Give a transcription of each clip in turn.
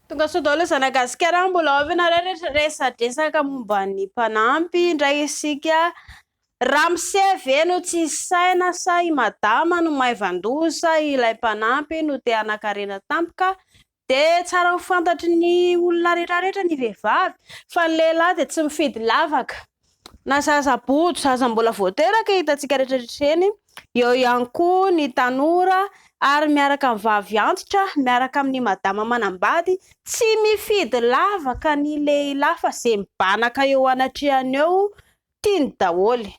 Tonga sao daholo zana gasikara an, mbola ao ve nareo rehetra resadresaka momba ny mpanampy indray isika, ramose ve no tsy saina sa i madama no maivandoza, ilay mpanampy no te hanakarena tampoka, de tsara ho fantatry ny olona retraretra ny vehivavy fa ny lehilahy de tsy mifidy lavaka. Na zaza bodo, zaza mbola vao teraka hitantsika rehetra rehetra ireny, eo ihany koa ny tanora ary miaraka amin'ny vavy antitra, miaraka amin'ny madama manambady, tsy mifidy lavaka ny lehilahy fa izay mibanaka eo anatrehany eo tiany daholo.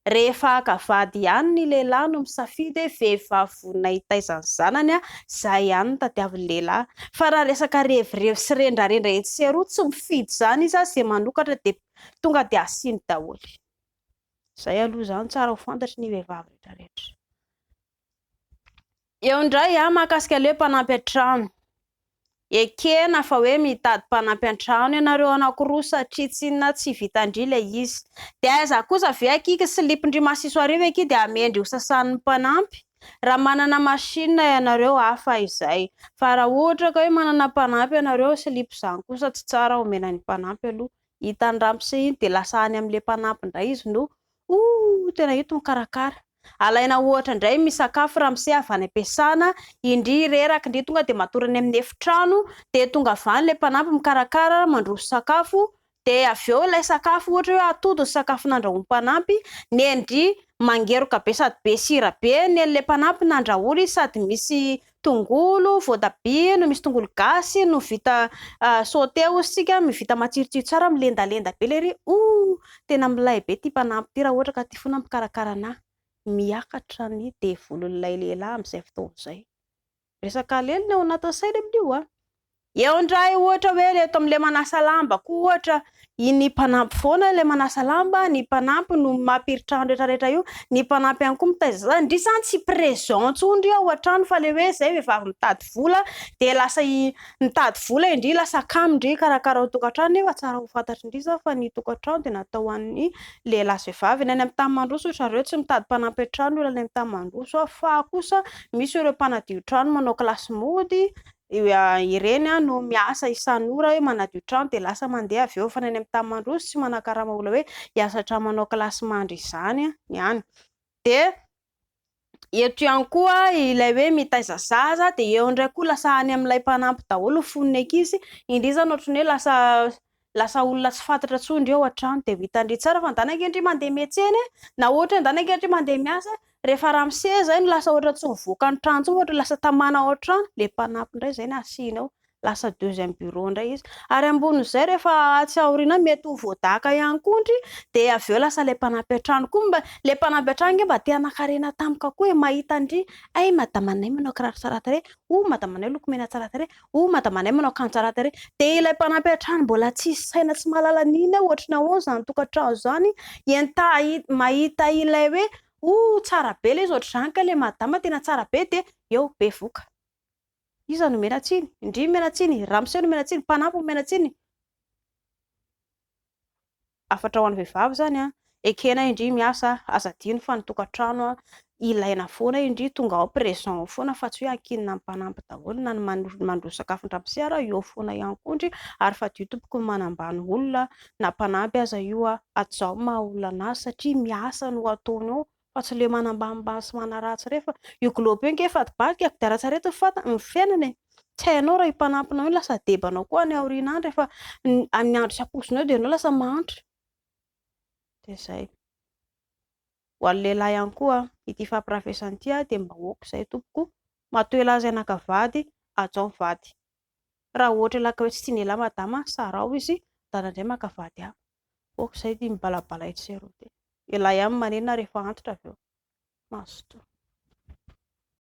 Rehefa haka vady ihany ny lehilahy no misafidy hoe vehivavy vonona hitaiza ny zanany, izay ihany no tadiavin'ny lehilahy. Fa raha resaka revirevy sy rendrarendra etsy sy eroa, tsy mifidy izany izy ary izay manokatra dia tonga dia asiany daholo. Izay aloha izany tsara ho fantatry ny vehivavy rehetrarehetra. Eo indray an, mahakasika ilay mpanampy an-trano. Ekena fa hoe mitady mpanampy an-trano ianareo anankiroa satria tsy inona tsy vitan-dry ilay izy. Dia aiza kosa ve akia ky slip-ndry masiso arivo akia dia amen-dry hosasan'ny mpanampy? Raha manana machine ianareo hafa izay. Fa raha ohatra ka hoe manana mpanampy ianareo, slip izany kosa tsy tsara omena ny mpanampy aloha. Hitan'ny ramose iny dia lasa any amin'ilay mpanampy indray izy no Ooh tena eto mikarakara. Alaina ohatra indray ny misakafo ramose avy any am-piasana, indry reraka indry tonga dia matory any amin'ny efitrano, dia tonga avy any ilay mpanampy mikarakara mandroso sakafo, dia avy eo ilay sakafo ohatra hoe atody ny sakafo nandrahoin'ny mpanampy, nendry mangeroka be sady be sira be, nen'ilay mpanampy nandrahoana izy sady misy tongolo, voatabia no misy tongolo gasy no vita sauté hozy tsika mivita matsirotsiro tsara milendalenda be lery oh tena milay be ty mpanampy ty raha ohatra ka ty fona mpikarakara anah miakatra ny devolon'ilay lehilahy amin'izay fotoana izay resaka alelina ao anatin'ny saina amin'io ah Eo indray ohatra hoe le eto amin'ilay manasa lamba koa ohatra iny mpanampy foana ilay manasa lamba, ny mpanampy no mampiritra ny retraretra io, ny mpanampy ihany koa mitaiza zaza, ndry zany tsy présent intsony ndry ao an-trano fa le hoe izay vehivavy mitady vola dia lasa mitady vola indry lasa kamo ndry hikarakara ny tokantrano nefa tsara ho fantatry ndry izao fa ny tokantrano dia natao ho an'ny lehilahy sy vehivavy, ny any amin'ny tany mandroso ry zareo tsy mitady mpanampy an-trano ny olona any amin'ny tany mandroso fa kosa misy ireo mpanadio trano manao kilasy mody Ireny no miasa isan'ora hoe manadio trano dia lasa mandeha avy eo mifanena any amin'ny tany mandroso sy manakarama olona hoe hiasa hatrany manao kilasy mandry izany ny any. Dia eto ihany koa ilay hoe mitaiza zaza dia eo indray koa lasa any amin'ilay mpanampy daholo ny fon'ny ankizy indrisy izany ohatran'ny hoe lasa Lasa olona tsy fantatra tsony reo atrany de ho hitandry tsara fa ndanake ndry mandeha miatsena e na ohatra hoe ndanake ndry mandeha miasa e refa ramose zay no lasa ohatra tsy mivoaka ny trano tsony ohatra lasa tamana ao atrano le mpanampy ndray zay no asina ao lasa deuxième bureau ndray izy ary ambonin'izay refa atsy aoriana any mety ho voadaka ihany koa ndry de avy eo lasa le mpanampy atrano koa mba le mpanampy atrano nge mba te hanakarena tampoka koa e mahita ndry ay madamanay manao kiraro tsara tarehy oh madamanay lokomena tsara tarehy Oh madamanay manao kanjo tsara tarehy. Dia ilay mpanampy hatrany mbola tsy saina tsy mahalala ny inona hoe ohatrany ahoana izany tokantrano izany. Entaha mahita ilay hoe oh tsara be ilay izy ohatr'izany ka ilay madama tena tsara be dia eo bevoka. Iza no miana tsiny? Ndry miana tsiny? Ramose no miana tsiny? Mpanampy no miana tsiny? hafatra ho an'ny vehivavy izany an, ekena indry miasa, aza adino fa ny tokantrano ilaina foana indry, tonga ao présent ao foana fa tsy hoe ankinina mifanampy daholo na ny mandroso sakafo an-dramose ary eo foana ihany koa indry ary fadio tompoko ny manambany olona na mpanampy aza io an, atzaho ny maha olona an'ahy satria miasa no ataony eo. fa tsy le manambanimbany sy manaratsy re fa io globe io nge fady bary ka kodiaran tsarety ny fat ny fiainana e tsy hainao raha io mpanampinao io lasa deba anao koa any aoriana any rehefa amin'ny andro tsy ampoizinao eo dia ianao lasa mahantra dia zay ho an'ny lehilahy ihany koa ity fampirafesana ity dia mba aoka izay tompoko matoa elah izay naka vady hajao ny vady Raha ohatra ilay kawetsy tiany elah madama a, sarao izy dada indray maka vady hafa, ok zay ity mibalabala etsy sy eroa ity, elah ihany manenina rehefa antitra avy eo, mazotoa.